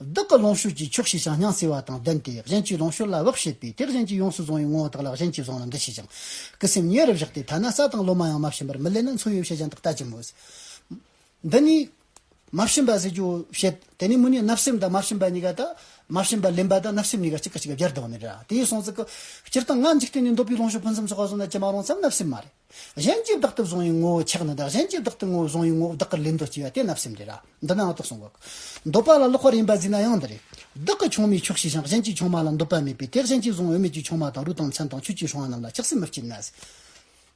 བདག་གི་ལོངས་སྤྱོད་ཀྱི་ཕྱོགས་ཞེས་ཀྱང་སྙང་ཟེར་བ་དང་ལྡན་ཏེ་གཞན་གྱི་ལོངས་སྤྱོད་ལ་བག་བྱེད་པས་དེ་གཞན་གྱིས་ཡོངས་སུ་བཟུང་བའི་ངོ་བོ་དག་ལ་གཞན་གྱིས་བཟུང་ལ་འདི་ཞེས་ཀྱང། ཀྱི་སེམས་ཉེ་རུ་བཞག་སྟེ་ཐ་ན་ས་དང་ལོ་མ་ཡང་མ་བྱིན་པར་མི་ལེན་ན་མཚོན་ཡོད་བྱད་གཞན་དག་ལྟ་ཅི་སྨོས། འདི་ནི། མ་བྱིན་པ་ཟེར་རྒྱུའོ་བྱེད། དེ་ནས་མུ་ནས་བརྣབ་སེམས་དང་མ་བྱིན་པ་གཉིས་ཀ་དག། མ་བྱིན་པ་ལེན་པ་དང་བརྣབ་སེམས་གཉིས་ཀ་གཅིག་གི་གཅིག་ལ་སྦྱར་དུ་འོང་ནི་རེད། དེ་ཡི་གསུངས་ཚུལ་གྱི། སྤྱིར་བཏང་ངག་འཇིག་རྟེན་ནས་འདོད་པའི་ལོངས་སྤྱོད་ཕུན་སུམ་ཚོགས་པ་བཟུང་ན་ཅི་མ་རུང་བསམ་བརྣབ་སེམས་མ་རེད། གཞན་གྱིས་བདག་ཏུ་བཟུང་བའི་ངོ་བོ་ཆགས་ན་བདག་གཞན་གྱིས་བདག་ཏུ་ངོ་བོ་བཟུང་བའི་ངོ་བོ་བདག་གི་ལུས་མདོ་སྐྱེ་བ་དེ་བརྣབ་སེམས་རེད་ར་འདི་ནའང་རྟོགས་སོང་གི། འདོད་པ་ལ་ལོག་པར་ཡིན་པ་གཟིགས་ན་ཡང་འདི་རེད། བདག་གི་ཆུང་མའི་ཕྱོགས་ཤེས་ཤིང་གཞན་གྱི་ཆུང་མ་ལ་འདོད་པ་མེད་པས་དེ་གཞན་གྱིས་བཟུང་འོས་མེད་ཀྱི་ཆུང་མ་དང་རུས་དང་མཚན་དང་ཆོས་ཀྱི་ཧྲུལ་བ་རྣམས་ལ་ཆགས་སེམས་མི་སྐྱེ་ན།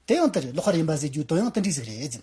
དེ་ཡང་དེ་རེད་ལོག་པར་ཡིན་པ་གཟིགས་རྒྱུའི་དོན་ཡང་དེ་འདྲའི་ཟིག་རེད།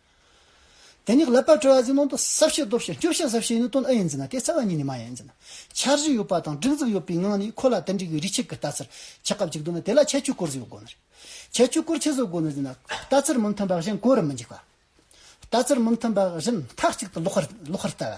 དེ་ནི་ལབ་པར་སྤྲོ་བ་འཛིན་ནང་དུ་ཟབ་ཞེས་སྟོབས་ཞེས་སྐྱོབ་བྱ་ཟབ་ཞེས་ནི་དོན་ཨ་ཡིན་འཛིན་ན་དེ་རྩ་བ་ཉིད་ནི་མ་ཡིན་འཛིན་ན། འཆར་གཞི་ཡོད་པ་དང་སྒྲིག་འཛུགས་ཡོད་པའི་ངང་ནས་ཁོ་ལ་དེ་འགྲིག་པའི་རིགས་ཆད་ཀྱི་ལྟ་ཚུལ་ཆད་སྐབས་ཅིག་འདུག་ན་དེ་ལ་ཁྱད་ཆོས་སྐོར་བཟོས་དགོས་ནི་རེད། ཁྱད་ཆོས་སྐོར་ཆད་བཟོ་དགོས་ནི་འཛིན་ན། ལྟ་ཚུལ་མི་མཐུན་པ་བཞིན་གོ་རུ་མི་འཇུག་པ། ལྟ་ཚུལ་མི་མཐུན་པ་བཞིན་མཐའ་གཅིག་ཏུ་ལོག་ཤར་ལྟ་བ།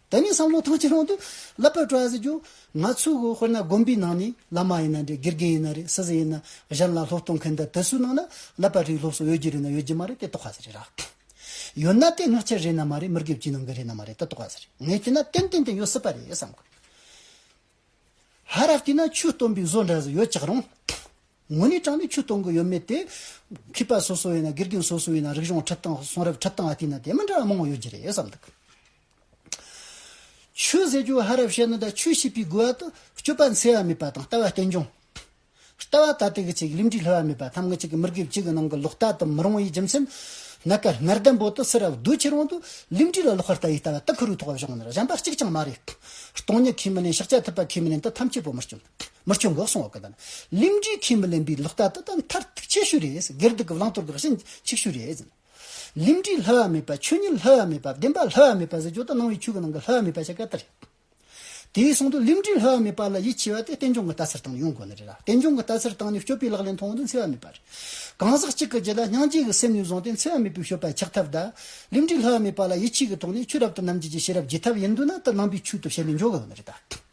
ད་ནི་བསམ་བློ་ཐང་ཆེན་ལོང་དུ་ལབ་པར་སྤྲོ་ཡ་ཟེར་རྒྱུ། ང་ཚོའི་དགོན་དཔེར་ན་དགོན་པའི་ནང་ནས་བླ་མ་ཡིན་ན་རེད་དགེ་རྒན་ཡིན་ན་རེད་སྲིད་ཟིན་ཡིན་ན་གཞན་ལ་སློབ་སྟོན་མཁན་དེ་དེ་ཚོའི་ནང་ན་ལབ་པ་རིགས་སློབ་གསོ་ཡོད་རྒྱུ་རེད་ན་ཡོད་རྒྱུ་མ་རེད་དེ་རྟོགས་ག་ཟེ་རེད་ར། ཡོད་ན་དེ་སྔགས་འཆལ་རེད་ན་མ་རེད་མི་དགེ་བཅུའི་ནང་གི་རེད་ན་མ་རེད་དེ་རྟོགས་ག་ཟེ་རེད་ངས་བལྟས་ན་ཏན་ཏན་དེ་ཡོད་སྲིད་པ་རེད་བསམ་དགོས། ཧ་ར་བལྟས་ན་ཆོས་སྟོན་པའི་བཟོ་འདྲ་ཟིག་ཡོད་ཅག་རུང། ངོ་ནས་དྲང་ནས་ཆོས་སྟོན་གི་ཡོད་མེད་དེ། མཁས་པ་སོ་སོ་ཡིན་ན་དགེ་རྒན་སོ་སོ་ཡིན་ན་རིག་གཞུང་ཁྲིད་སྟངས་གསུང་རབ་ཁྲིད་སྟངས་བལྟས་ན་དེ་མི་འདྲ་བ་མང་བོ་ཡོད་རྒྱུ་རེད་བསམ་འདུག། ཆོས་ཟད་རྒྱུ་ཧ་རབ་བཤད་ནོ་དང་ཆོས་ཤེས་པའི་དགོས་བ་དུ་སྤྱོད་པ་འཚེ་བ་མེད་པ་དང་ལྟ་བ་རྟེན་འབྱུང། ལྟ་བ་ད་ལྟའི་གི་ཆེ་གི་ལུས་འདྲིས་ལྷོད་བ་མེད་པ་ཐམས་ངེད་ཅིག་གི་མི་དགེ་བཅུ་གི་ནང་གི་ལོག་ལྟ་དུ་མི་རུང་བའི་རྒྱུ་མཚན། ནད་ཀར་སྔར་ལྡན་པོ་དུ་སེར་ར་བདུད་ཁྱེར་དབང་དུ་ལུས་འདྲིས་ལ་ལོག་པར་ལྟ་བའི་ལྟ་བ་དུ་ཁུ་རུའི་ཐོག་བ་བཞག་ནས་གཞན་པ་གཅིག་ཀྱང་མ་རེད། སྟོང་ཉིད་ཁས་མི་ལེན་ཕྱག་རྒྱ་ཐུབ་པ་ཁས་མི་ལེན་དུ་ཐམས་ཅད་པོ་མི་སྐྱོན། མི་སྐྱོན་འགོག་སྲུང་འོག་གི་དང་ལུས་འདྲིས་ཁས་མི་ལེན་པའི་ལོག་ལྟ་དུ་ད་མཐར་ཐུག་ཁྱད་ཤོས་རེད། སྒེར་སྡུག་གི་བླང་དོར་གི་རང་བཞིན་ཆིག་ཤོས་རེད། ལིང་བྲིས་ལྷ་བ་མེད་པ་ཆོས་ཉིད་ལྷ་བ་མེད་པ་བདེན་པ་ལྷ་བ་མེད་པ་ཟེར་ཇོ་དང་སྣང་བའི་ཆོས་ཀྱི་ནང་གི་ལྷ་བ་མེད་པ་ཆ་ག་ལྟར་རེད། དེའི་གསུང་དུ་ལིང་བྲིས་ལྷ་བ་མེད་པ་ལ་ཡིད་ཆེས་པ་དེ་རྟེན་འབྱུང་གི་ལྟ་སར་བཏང་ནས་ཡོང་དགོས་ནི་རེད་ལ་རྟེན་འབྱུང་གི་ལྟ་སར་བཏང་ནས་སྤྱོད་པའི་ལག་ལེན་མཐོང་བ་འདི་འཚེ་བ་མེད་པ་རེད། གང་ཟག་གཅིག་གི་རྗེས་ལ་སྙིང་རྗེ་གི་སེམས་ནས་བཟུང་སྟེ་འཚེ་བ་མེད་པའི་སྤྱོད་པ་འཁྱག་ཐབས་དང། ལིང་བྲིས་ལྷ་བ་མེད་པ་ལ་ཡིད་ཆེས་ཀྱི་ཐོག་ནས་ཆོས་རབ་དང་རྣམ་འབྱེད་ཀྱི་ཤེས་རབ་རྒྱས་ཐུབ་ན་དེ་ནང་པའི་ཆོས་ཐོབ་བྱས་ནས་འཇོག་དགོས་ནི་རེད།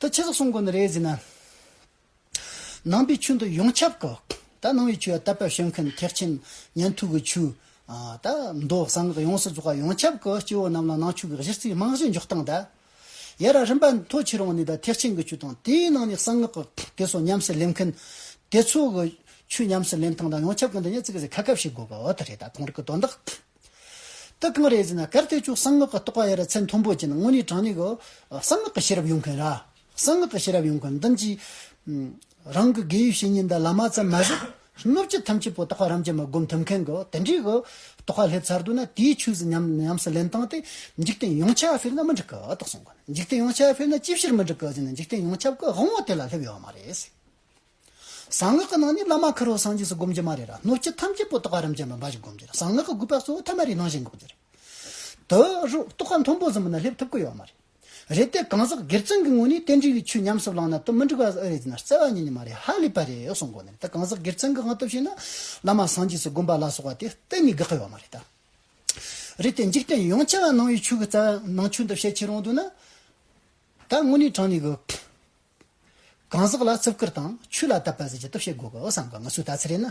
ད་ཆད་སོགས་སྲུང་དགོས་ན་རེད་ཟེར་ན། ནང་པའི་ཆུ་འདི་ཡོངས་ཁྱབ་དགོས། ད་ནང་བའི་ཆུ་ཡ་ད་པ་བྱོན་མཁན་ཐེག་ཆེན་ཉན་ཐོས་ཀྱི་ཆུ། ད་མདོ་གསང་སྔགས་ཡོངས་སུ་རྫོགས་པ་ཡོངས་ཁྱབ་དགོས་སྐྱེ་བོ་རྣམས་ལ་ནང་ཆོས་ཀྱི་གཞི་རྩའི་རྨང་གཞི་འཇོག་སྟངས་ད། ཡ་ར་རིམ་པ་མཐོ་ཆེ་རང་ནས་ད་ཐེག་ཆེན་གྱི་ཆུ་དང་དེའི་ནང་ནས་གསང་སྔགས་ཀྱི་དེ་སོགས་ཉམས་སུ་ལེན་མཁན་དེ་ཚོ་གི་ཆུ་ཉམས་སུ་ལེན་སྟངས་ད་ཡོངས་ཁྱབ་དགོས་ན་ཡ་ཙི་གི་ཟེར་ཁ་ཁ་བྱེད་དགོས་པ་འོ་ད་རེད་ད་གང་རིགས་ཀྱི་དོན་དག། ཏུ་གང་རེད་ཟེར་ན་གར་སྟོད་ཕྱོགས་གསང་སྔགས་ཀྱི་རྟོགས་པ་ཡ་རབས་ཚད་མཐོན་པོ་ཅན་དངོས་གནས་དྲང་གནས་ཀྱི་གསང་སྔགས་ཀྱི་ཤེས་རབ་ཡོང་མཁན་ར། གསང་སྔགས་ཀྱི་ཤེས་རབ་ཡོང་མཁན་འདི་གཉིས། རང་གི་དགེ་བའི་བཤེས་གཉེན་འདི་བླ་མ་ཙམ་མ་ཟད། སྣོད་བཅུད་ཐམས་ཅད་པོ་རྟོགས་པ་རམ་ཅན་མ་བསྒོམ་ཐུབ་མཁན་གྱི་དེ་འདྲའི་གི་རྟོགས་པ་སླེབས་ཚར་འདུག་ན་དེའི་ཆོས་སུ་ཉམས་སུ་ལེན་སྟངས་དེ་འཇིག་རྟེན་ཡོངས་ཁྱབ་ཕེབས་ན་མི་འགྲིག་གི་དག་གསུང་གི་འཇིག་རྟེན་ཡོངས་ཁྱབ་ཕེབས་ན་ཅི་ཕྱིར་མི་འགྲིག་གི་ཟེར་ན་འཇིག་རྟེན་ཡོངས་ཁྱབ་གི་དབང་བོ་དེ་ལ་སླེབས་ཡོད་མ་རེད། གསང་སྔགས་ཀྱི་ནང་ནས་བླ་མ་ཁ་རོག་སངས་རྒྱས་སུ་བསྒོམ་གྱི་མ་རེད་ར་སྣོད་བཅུད་ཐམས་ཅད་པོ་ཏོག་ཨ་རམ་ཅན་པ་འབའ་ཞིག་བསྒོམ་གྱི་རེད་གསང་སྔགས་ཀྱི་དགོས་པ་གཙོ་བོ་ཐ་མ་རེ་ནང་བཞིན་འགོག་རྒྱུ་རེད་དུ་རུ་ཏོག་ཨ་མཐོན་པོ་ཟིན་པ་ན་སླེབས་ཐུབ་ཀྱི་ཡོད་མ་རེད། རེད་དེ་གང་ཟག་སྒེར་བཙུན་གྱི་ངོས་ནས་རྟེན་འབྲེལ་གྱི་ཆོས་ཉམས་སུ་བླངས་ན་དུ་མི་འགྲིག་པ་ཨེ་རེད་ཅེ་ན་བརྩེ་བ་ཉིད་ནས་མ་རེད་ཧ་ལས་པ་རེད་གསུངས་དགོས་ནི་རེད་དེ་གང་ཟག་སྒེར་བཙུན་གྱི་དབང་སྟོབས་ཤིག་ན་བླ་མ་སངས་རྒྱས་སུ་བསྒོམ་པ་ལ་སོགས་པ་དེ་གཏན་ནས་དགག་གི་ཡོད་མ་རེད་དཱ། རེད་དེ་འཇིག་རྟེན་ཡོངས་ཆེ་བ་ནང་བའི་ཆོས་ཀྱི་རྩ་བ་ནང་ཆོས་འདི་བཤད་ཆེ་རུང་དུ་ན་ད་དངོས་གནས་དྲང་ནས་གི། གང་ཟག་ལ་རྩིབས་བསྐུར་དང་ཆོས་ལ་དད་པ་ཟེར་གྱི་སྟོབས་བཤད་དགོས་གི་བསམ་གི་ང་ཚོའི་ལྟ་ཚུལ་རེད་ན།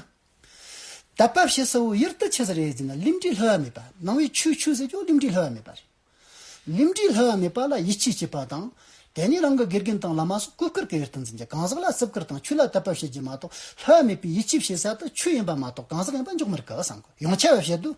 དད་པ་བྱེད་ས་བོ་ཡུལ་དུ་ཆས་ས་རེད་ཟེར་ན་རླིམ་དྲི་ལྷོད་བ་མེད་པ་ནང་བའི་ཆོས་ཆོས་ཟེར་ཀྱང་རླིམ་དྲི་ལྷོད་བ་མེད་པ་རེད། རླིམ་དྲི་ལྷོད་བ་མེད་པ་ལ་ཡིད་ཆེས་བྱེད་པ་དང། དེ་ནས་རང་གི་དགེ་རྒན་དང་བླ་མ་སོགས་གུས་བཀུར་གྱི་ཡུལ་དུ་འཛིན་གྱི་གང་ཟག་ལ་རྩིབས་བསྐུར་དང་ཆོས་ལ་དད་པ་བྱེད་རྒྱུ་མ་གཏོགས་ལྷོད་བ་མེད་པའི་ཡིད་ཆེས་བྱེད་ས་དེ་ཆོས་ཡིན་པ་མ་གཏོགས་གང་ཟག་ཡིན་པ་འཇོག་མི་རིགས་གི་བསམ་གི་ཡང་ཆེ་བ་བཤད་དུས།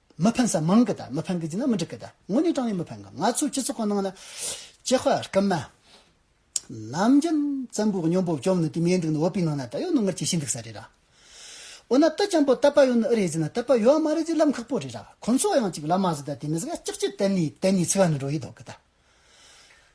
མི་ཕན་ས་མང་གི་དང་མི་ཕན་གི་རྫི་ན་མི་འགྲིག་གི་དང་དངོས་གནས་དྲང་བའི་མི་ཕན་གི་ང་ཚོའི་སྤྱི་ཚོགས་གང་ནང་ལ་སྐྱེ་དཔའ་རྐུན་མ་ནམ་རྒྱུན་བཙན་པོའི་སྨྱོ་འབོག་བཅོམ་ནི་དུས་མེད་འདུག་ནི་བོད་པའི་ནང་ན་ད་ཡོད་ནོ་ངར་ཅི་ཞིག་འདུག་ས་རེད་ར་འོ་ན་དུད་ཅམ་པོ་ལྟ་པ་ཡོད་ནི་ཨི་རེད་རྫི་ན་ལྟ་པ་ཡོད་ཨ་མ་རེད་རྫི་ལམ་ཁག་པོ་རེད་ར་ཁོང་ཚོ་ཡང་ཅིག་ལ་མ་ཟི་ད་དེ་མི་ཟི་ག་ཅིག་ཅིག་བསྟན་ནས་བསྟན་ནས་ཚི་ག་ནི་འགྲོ་ཡི་འདུག་གི་དང།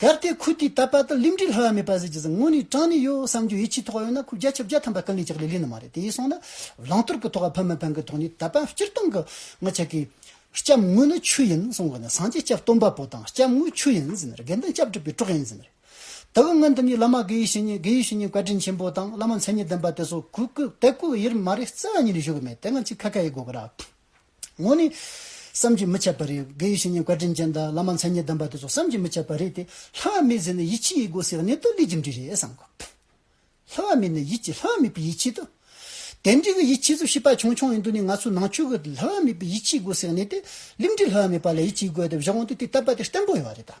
གལ་ཏེ་ཁུལ་དེའི་ད་པ་དང་ལིམ་འབྲི་ལྷ་བ་མེད་པ་ཟེར་གྱི་ཟེར་ངོ་ནི་ཀྲང་ནི་ཡོད་བསམ་རྒྱུ་ཡིད་ཆེས་ཐོག་ཡོད་ན་ཁུལ་བརྒྱ་ཆ་བརྒྱ་ཐམ་པ་ཀ་ལི་ཅག་ལི་ལི་ནི་མ་རེད་དེ་ཡིན་སོང་ན་ལང་ཏོར་གི་ཐོག་ཨ་ཕ་མི་ཕན་གི་ཐོག་ནས་ད་པ་སྤྱིར་བཏང་གི་ང་ཆ་གི་སྐྱབས་དངོས་ནི་ཆུ་ཡིན་སོང་གི་ནི་སངས་རྒྱས་སྐྱབས་སྟོན་པ་པོ་དང་སྐྱབས་དངོས་ཆུ་ཡིན་ཟེར་ནི་རེད་དགེ་འདུན་སྐྱབས་སྒྲུབ་པའི་གྲོགས་ཡིན་ཟེར་ནི་རེད་ད་གི་ང་འདི་གཉིས་བླ་མ་དགེ་ཡུ་ཤི་ཉིན་དགེ་ཡུ་ཤི་ཉིན་བཀའ་དྲིན་ཆེན་པོ་དང་བླ་མ་མཚན་ཉིད་ལྡན་པ་དེ་ཚོ་གུ་གུ་དད་གུ་ཡིར་མ་རེད་བརྩེ་བ་ཉིད་ནས་ཞུ་གི་མེད་དེ་ང་ཅིག་ཁ་ཁ་ཡི་སྒོ་ཁར་ཨ། ངོ་ནི། བསམ་གྱིས་མི་ཁྱབ་པ་རེད། དགེ་ཡི་བཤེས་གཉེན་བཀའ་དྲིན་ཅན་དང་བླ་མ་མཚན་ཉིད་ལྡན་པ་དེ་ཚོ་བསམ་གྱིས་མི་ཁྱབ་པ་རེད་དེ། ལྷ་བ་མི་ཟེར་ནས་ཡིད་ཆེས་ཡིད་དགོས་ཟེར་བ་ནི་ཏོ་ལི་རྒྱུ་འབྲས་རེད་བསམ་དགོས། ལྷ་བ་མེད་ནས་ཡིད་ཀྱི་ལྷ་བ་མེད་པའི་ཡིད་ཆེས་ཏོ། དེ་འདྲའི་གི་ཡིད་ཆེས་ཚོ་ཤི་པ་ཆུང་ཆུང་ཡིན་དུས་ནས་ང་ཚོའི་ནང་ཆོས་གི་ལྷ་བ་མེད་པའི་ཡིད་ཆེས་དགོས་ཟེར་བ་ནི་ཏེ་ལིམ་འབྲས་ལྷ་བ་མེད་པ་ལ་ཡིད་ཆེས་དགོས་དེ་བཞག་འོང་དུས་དེ་ལྟ་བ་དེ་བརྟན་པོ་ཡོད་རེད་དཱ།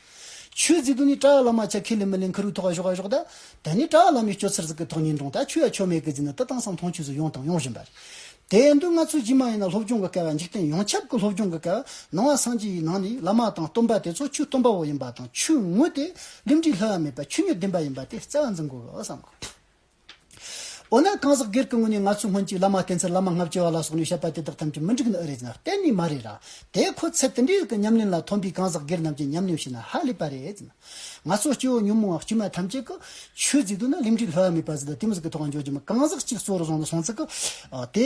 ཆོས་རྫིག་དུ་ནི་བྲག་ལ་མ་ཆ་ཁས་ལེན་མི་ལེན་ཁུ་རུ་ཐོག་གཞོག་གཞོག་ད། ད་ནི་བྲག་ལ་མའི་སྤྱོད་ཚུལ་རྫིག་གི་ཐོག་ཉིན་དྲོང་ད་ཆོས་ཡ་ཆོས་མེད་གི་རྫིག་ནི་ཏི་ཏང་སང་ཐོང་ཆོས་ཚུལ་ཡོང་དང་ཡོང་བཞིན་པ་རེད། དེ་ཡན་དུ་ང་ཚོས་ཇི་མ་ཡིན་ན་སློབ་སྦྱོང་གི་སྐལ་བ་འཇིག་རྟེན་ཡོངས་ཁྱབ་ཀྱི་སློབ་སྦྱོང་གི་སྐལ་བ་ནང་བ་སངས་རྒྱས་ཡི་ནང་ནས་བླ་མ་དང་སྟོན་པ་དེ་ཚོ་ཆོས་སྟོན་པ་བོ་ཡིན་པ་དང་ཆོས་དངོས་དེ་རླུད་འབྲས་ལྷོད་ཡ་མེད་པ་ཆོས་ཉིད་བདེན་པ་ཡིན་པ་དེ་རྩ་བ་འཛིན་དགོས་བསམ་དགོས། འོ་ན་གང་ཟག་སྒེར་གྱི་ངོས་ནས་ང་ཚོས་སྔོན་གཅིག་བླ་མ་བསྟེན་ཚེ་བླ་མ་ལྔ་བསྐྱེལ་བ་ལ་སོགས་ནས་བཤད་པ་དེ་དག་ཐམས་ཅད་མི་འགྲིག་ན་ཨེ་རེད་ཟེར་ན་གཏན་ནས་མ་རེད་ར། དེ་ཁོ་ཚེ་དེ་འདྲའི་གི་ཉམས་ལེན་ལ་ཐོན་པའི་གང་ཟག་སྒེར་རྣམས་ཀྱི་ཉམས་ལེན་བྱས་ན་ཧ་ལས་པ་རེད་ཟེར་ན། ང་ཚོ་སྐྱེ་བོ་ཉོན་མོངས་བ་དཀྱུས་མ་ཐམས་ཅད་ཀྱི། ཆོས་བརྫིས་འདོད་ན་ལིམ་འགྲིག་ལྷོད་ཡ་མེད་པ་ཟིན་ལ་དེ་མི་ཟིན་གྱི་ཐོག་འགྱོ་རྒྱུ་མི་གང་ཟག་གཅིག་གཙོ་བོར་བཟུང་ལ་སོང་ཚེ་གི། དེ།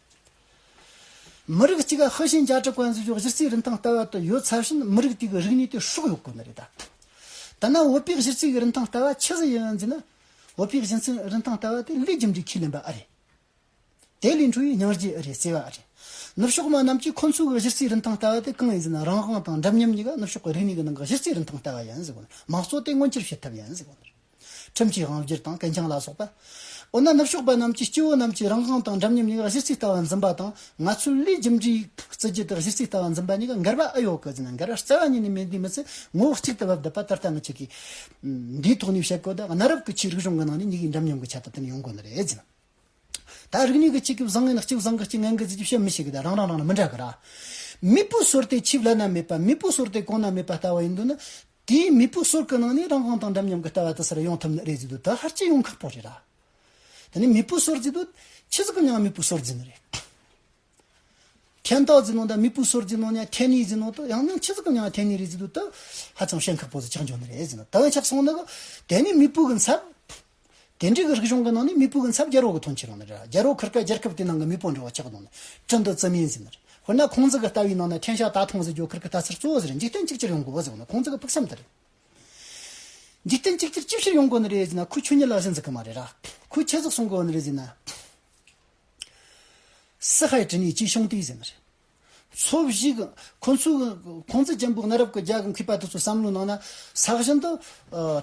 མི་རིགས་གཅིག་ཧྭ་ཞིན་ཅཱ་ཀྲི་ཀོན་སྲིད་ཕྱོགས་གཞི་རྩའི་རིན་ཐང་ལྟ་བ་དུ་ཡོད་ཚར་ཕྱིན་མི་རིགས་དེ་གི་རིག་གནས་དེ་ཧྲུག་གཡོག་དགོས་ནི་རེད་ད། ཐ་ན་བོད་པའི་གཞི་རྩའི་གི་རིན་ཐང་ལྟ་བ་ཆི་ཟི་ཡིན་ཟིན་ན། བོད་པའི་གཞི་རྩའི་རིན་ཐང་ལྟ་བ་དེ་ལུས་རྒྱུ་འབྲས་ཁས་ལེན་པ་ཨ་རེད། དེ་ལས་འཕྲོས་ཡི་སྙིང་རྗེ་ཨི་རེད་ཟེར་བ་ཨ་རེད། ནུབ་ཕྱོགས་མ་རྣམས་ཀྱིས་ཁོ་ཚོའི་གི་གཞི་རྩའི་རིན་ཐང་ལྟ་བ་དེ་གང་ཡིན་ཟིན་ན་རང་དབང་དང་འདྲབ་མཉམ་གཉིས་ཀ་ནུབ་ཕྱོགས་གི་རིག་གནས་ཀི་ནང་གི་གཞི་རྩའི་རིན་ཐང་ལྟ་བ་ཡིན་ཟེར་དགོས་ན་མང་གཙོ་དེ་མངོན་འགྱུར་བྱེད་ཐབས་ཡིན་ཟེར་དགོས་ནི་རེད། ཁྲིམས་ཀྱིས་དབང་བསྒྱུར་དང་གན་རྐྱང་ལ་སོགས་པ། འོ་ན་ནུབ་ཕྱོགས་པ་རྣམས་ཀྱིས་སྐྱེ་བོ་རྣམས་ཀྱིས་རང་དབང་དང་འདྲ་མཉམ་གཉིས་ཀ་གཞི་རྩའི་ལྟ་བ་འཛིན་པ་དང་ང་ཚོས་ལུས་རྒྱུ་འབྲས་བརྩི་རྒྱུ་དེ་གཞི་རྩའི་ལྟ་བ་འཛིན་པ་གཉིས་ཀ་འགལ་བ་ཨེ་ཡོད་གོ་ཟེར་ན་འགལ་བ་རྩ་བ་ཉིད་ནས་མེད་དུས་མི་ཚོས་ངོ་བོ་གཅིག་ཏུ་བབས་བསྡད་པ་ད་ལྟ་ང་ཅིག་གིས་འདིའི་ཐོག་ནས་བཤད་དགོས་ད་གནའ་རབས་ཀྱི་ཆོས་རིག་གཞུང་གི་ནང་ནས་གཉིས་ཀའི་འདྲ་མཉམ་གྱི་ཁྱད་ཐབས་དེ་ནི་ཡོང་དགོས་ནི་རེད་ཟེར། ད་རིག་ནུས་ཀྱི་གཅིག་གི་བཟང་ངན་གཅིག་བཟང་གི་གཅིག་ངན་གྱི་རྩི་རྒྱུ་བཤད་མི་ཤེས་གི་ད་རང་རང་རང་ལ་མི་འདྲ་གི་ར། མི་བུ་ཟུར་དེ་ཆིབས་ལ་ན་མེད་པ་མི་བུ་ཟུར་དེ་གོང་ན་མེད་པ་ལྟ་བ་ཡིན་དུས་ན། དེ་ཡིན་མི་བུ་ཟུར་ཀི་ནང་ནས་རང་དབང་དང་འདྲ་མཉམ་གི་ལྟ་བ་དེ་སར་ཡོང་ཐུབ་ནི་རེད་ཟེར་དུས་ད་ཧར་ཅི་ཡོང་ཁག་པོ་རེད་ལ། དེ་ནས་མི་བུ་ཟུར་བརྫི་དུས་ཁྱི་ཟིག་གི་ནང་མི་བུ་ཟུར་བརྫི་ནི་རེད། ཁྱད་མདའ་བརྫི་ནོ་འདའ་མི་བུ་ཟུར་བརྫི་ནོ་ནའི་ཐན་ནི་བརྫི་ནོ་དུ་ཡང་ན་ཁྱི་ཟིག་གི་ནང་ཐན་ནི་རེད་ཟེར་དུས་ད་ཧ་ཅང་ཞེན་ཁག་པོ་ཟིག་ཆགས་འཇོག་ནི་རེད་ཟེར་ན་ད་ཧ་ཆགས་སོང་ནི་གི་དེ་ནི་མི་བུ་གི་མཚར། དེ་འབྲེལ་གྱི་རིག་གཞུང་གི་ནང་ནས་མི་བུ་གི་མཚམས་རྒྱལ་རོགས་ཀྱི་ཐོན་ཆེ་རང་ནི་རེད། རྒྱལ་རོགས་ཁུར་སྐབས་རྒྱལ་ཁབ་དེའི་ནང་གི་མི་བུ་འབྲེལ་བ་ཆགས་གདོང་ནི་ཀྲི་འདུ་ཙི་མིན་ཟེར་ནི་རེད། དཔེར་ན་ཁོང་ཙི་གི་ལྟ་བའི་ནང་ནས་ཁྲེན་ཤ་ཏཱ་ཐུང་ཟེར་རྒྱོ་ཁུར་གི་ལྟ་ཚུལ་གཙོ་བོ་ཟེར་ནི་འཇིག་རྟེན་གཅིག་ཅར་ཡོང་དགོས་ཟེར་བ་ནི་ཁོང་ཙི་གི་ཕུགས་བསམ་དེ་རེད། འཇིག་རྟེན་གཅིག་ཅར་ཅི་ཕྱིར་ཡོང་དགོས་ནི་རེད་ཟེར་ན་ཁོས་ཆོས་ཉིད་ལ་གཟིགས་འཛིན་གི་མ་རེད་ར། ཁོས་ཁྱད་གཟིགས་སྲུང་དགོས་ནི་རེད་ཟེར་ན། སི་ཧའི་ཀྲི་ནི་ཅིའི་ཤོང་དུས་ཟེར་ནི་རེད། ཚོ་བཞི་གི་ཁོ་ཚོའི་ཁོང་ཙི་ཅན་པོ་གནའ་རབས་ཀྱི་རྒྱ་གི་མཁས་པ་དེ་ཚོའི་བསམ་བློའི་ནང་ན་ས་བཞིན་དུ།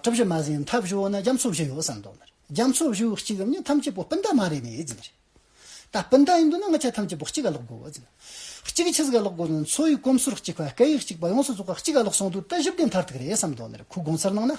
གྲུ་བཞི་མ་ཟིན་ཡང་མཐའ་བཞི་འོག་ན་རྒྱ་མཚོ་བཞི་ཡོད་ས་མདོག་ནི་རེད། རྒྱ་མཚོ་བཞི་བོའི་གཅིག་གམ་གཉིས་ཐམས་ཅད་པོ་སྤུན་ཟླ་མ་རེད་མི་ཡོད་རྫུན་མ་རེད། ད་སྤུན་ཟླ་ཡིན་དུས་ན་ང་ཆ་ཐམས་ཅད་པོ་གཅིག་ག་ལོག་དགོས་རྫུན་མ་རེད། གཅིག་ཆི་ཟིག་ག་ལོག་དགོས་དོན་འཚོ་བའི་གོམས་སྲོལ་གཅིག་པ་སྐད་ཡིག་གཅིག་པ་ཡོངས་སུ་རྫོགས་པ་གཅིག་ག་ལོག་སོང་དུས་ད་བཞི་བདེ་མཐར་ཐུག་རེད་བསམ་མདོག་ནི་རེད་ཁོའི་དགོངས་ཚུལ་ནང་ན།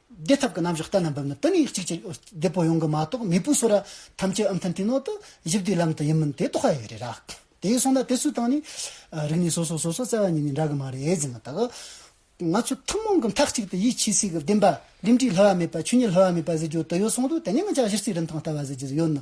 བདེ་ཐབས་ཀྱི་རྣམ་གཞག་གཏན་ལ་འབེབས་ན་དེ་ནི་གཅིག་ཅེས་བདེ་པོ་ཡོང་གི་མ་གཏོགས་མེས་པོའི་སོ་ར་ཐམས་ཅད་ཨམ་ཐན་ཏིན་ནོ་དང་བཞི་བདེའི་ལམ་དུ་ཡིན་མིན་དེ་རྟོགས་ཧ་ཡག་རེད་ར། དེ་སོང་ན་དེ་ཚོའི་སྟེང་ནས་རིག་གནས་སོ་སོ་སོ་སོ་བཙལ་བ་གཉིས་ནི་འདྲ་གི་མ་རེད་ཟེར་མི་ཐག། ང་ཚོ་ཐུན་མོང་གི་མཐའ་གཅིག་ཏུ་ཡིད་ཆེས་སྲིད་གི་བདེན་པ་རིམ་གྲས་ལྷོད་བ་མེད་པ་ཆོས་ཉིད་ལྷོད་བ་མེད་པ་ཟེར་རྒྱུ་དེ་ཡོད་སོང་དུས་དེ་ནས་ང་ཅག་གཞི་རྩའི་རིན་ཐང་ལྟ་བ་ཟེར་རྒྱུ་ཡོད་ནི།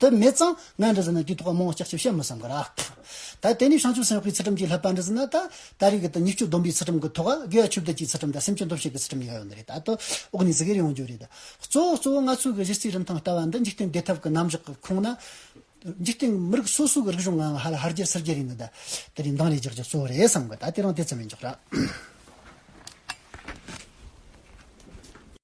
དུ་མེད་ཙང་ང་འདྲི་ཟིན་ན་དུས་ཐོག་མང་བོ་ལྕགས་ཆབ་བཤད་མི་བསམ་གི་རག། ད་དེ་ནས་བྱང་ཆུབ་སེམས་དཔའི་ཚུལ་ཁྲིམས་ཀྱི་ལྷག་པ་འདྲི་ཟིན་ན་ད་ད་རེས་ཀྱི་དུས་ཉེར་སྤྱོད་སྡོམ་པའི་ཚུལ་ཁྲིམས་ཀྱི་ཐོག་དགེ་བ་ཆོས་བརྒྱད་ཀྱི་ཚུལ་ཁྲིམས་དང་སེམས་བསྐྱེད་འདུ་ཤེས་ཀྱི་ཚུལ་ཁྲིམས་ཡང་ཡོད་ནི་རེད་ད་དུ་འོག་ནས་ཟིག་ཡེར་ཡོང་རྒྱུ་རེད། གཙོ་བོ་གཙོ་བོ་ང་ཚོའི་གི་གཞི་རྩའི་རིན་ཐང་ལྟ་བ་འདི་འཇིག་རྟེན་བདེ་ཐབས་ཀྱི་རྣམ་གཞག་གི་ཁུངས་ན། འཇིག་རྟེན་མི་རིགས་སོ་སོའི་གི་རིག་གཞུང་ངང་ཧ་ལ་ཧར་རྒྱས་སིལ་རྒྱས་རིག་ནི་ད་དེ་རིང་མདང་རེ་རྒྱག་རྒྱག་གཙོ་བོ་རེད་བསམ་གི་ད་དེ་རང་དེ་ཙམ་ཡིན་རྒྱག་རག།